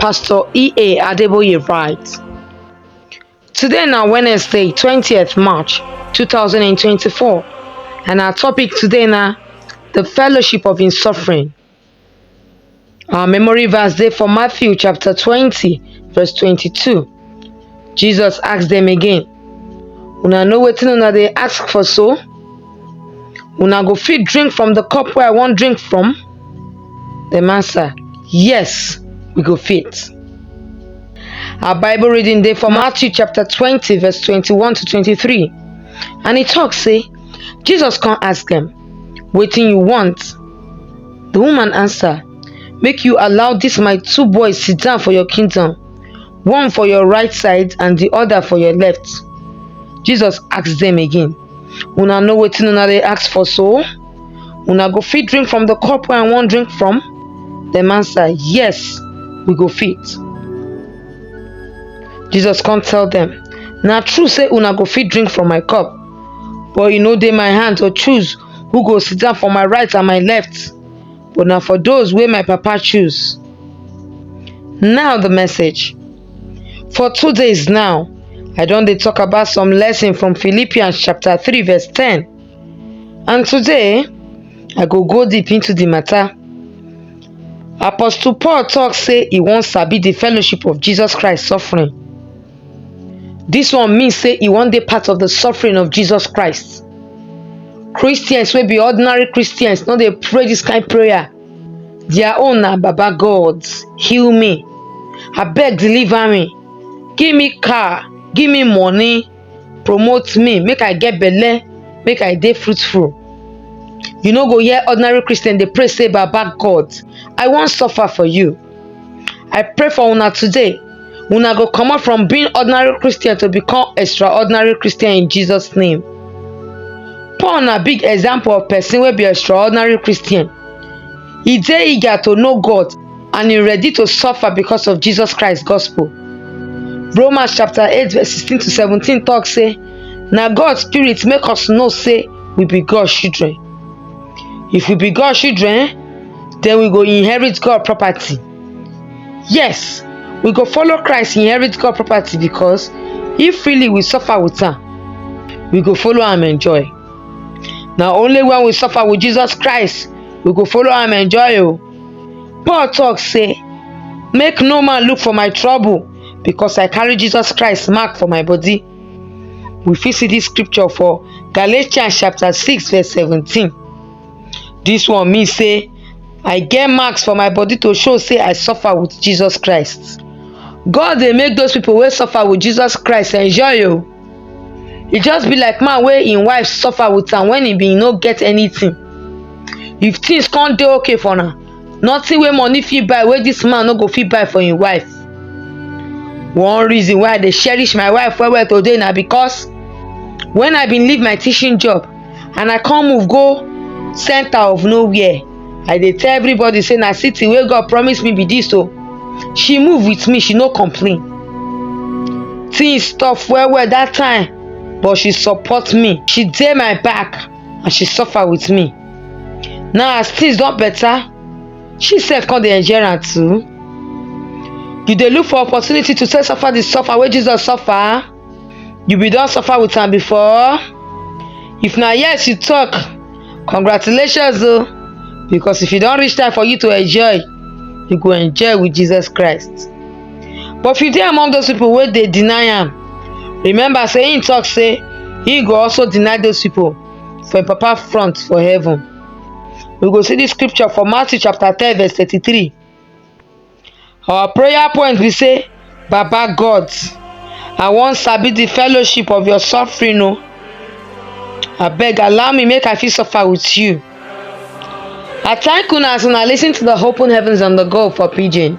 Pastor E.A. Adeboye writes. Today na Wednesday, 20th March 2024, and our topic today na the fellowship of in suffering. Our memory verse dey for Matthew chapter 20, verse 22. Jesus ask dem again, Una know wetin una dey ask for so? Una go fit drink from the cup wey I wan drink from? Dem answer, Yes, we go fit. Our Bible reading dey for Matthew chapter 20, verse 21 to 23. And e talk say, Jesus come ask dem, Wetin you want? The woman answer, Make you allow dis my two boys sit down for your kingdom. one for your right side and the other for your left jesus asked them again una know wetin una dey ask for so una go fit drink from the cup wey i wan drink from dem answer yes we go fit jesus come tell them na true say una go fit drink from my cup but e no dey my hand to choose who go sit down for my right and my left but na for those wey my papa choose. Now the message. For two days now, I don dey talk about some lesson from Philippians chapter 3 verse 10. And today, I go go deep into the matter. Apostle Paul talk say he wan sabi the fellowship of Jesus Christ suffering. This one means say e wan dey part of the suffering of Jesus Christ. Christians wey be ordinary Christians no dey pray this kind prayer. Their own na Baba God, heal me. Abeg deliver me. Give me car, give me money, promote me, make I get belle, make I dey fruitful. You no go hear ordinary Christian dey pray say Baba God, I wan suffer for you. I pray for una today. Una go comot from being ordinary Christian to become extraordinary Christian in Jesus name. Paul na big example of person wey be extraordinary Christian. E dey eager to know God and e ready to suffer because of Jesus Christ gospel. Romans chapter 8 verse 16 to 17 talk say na God spirit make us know say we be God children. If we be God children, den we go inherit God property. Yes, we go follow Christ inherit God property because if freely we suffer with am, we go follow am enjoy. Na only when we suffer with Jesus Christ we go follow am enjoy o. Oh. Paul talk say, make no man look for my trouble because I carry Jesus Christ mark for my body. We fit see this scripture for Galatians chapter 6 verse 17. Dis one mean sey I get marks for my body to show sey I suffer with Jesus Christ. God dey make those pipu wey suffer with Jesus Christ enjoy oo. Oh. E just be like man wey im wife suffer with am wen e bin no get anything. If things come dey okay for una nothing wey money fit buy wey this man no go fit buy for him wife one reason why i dey cherish my wife well well today na because when i bin leave my teaching job and i come move go center of nowhere i dey tell everybody say na city wey god promise me be this o she move with me she no complain things tough well well that time but she support me she dey my back and she suffer with me now as things don better she sef come dey enjoy am too you dey look for opportunity to take suffer the suffer wey jesus suffer you bin don suffer with am before if na yes you talk congratulations o because if e don reach time for you to enjoy you go enjoy with jesus christ But if you dey among those people wey dey deny am, remember say him talk say he go also deny those people for him papa front for heaven. We go see this scripture for Matthew chapter 10 verse 33. Our prayer point be say, Baba God, I wan sabi the fellowship of your suffering o. Abeg allow me make I fit suffer with you. I thank una as una lis ten to the Open Heavens on the Go for Pidgin.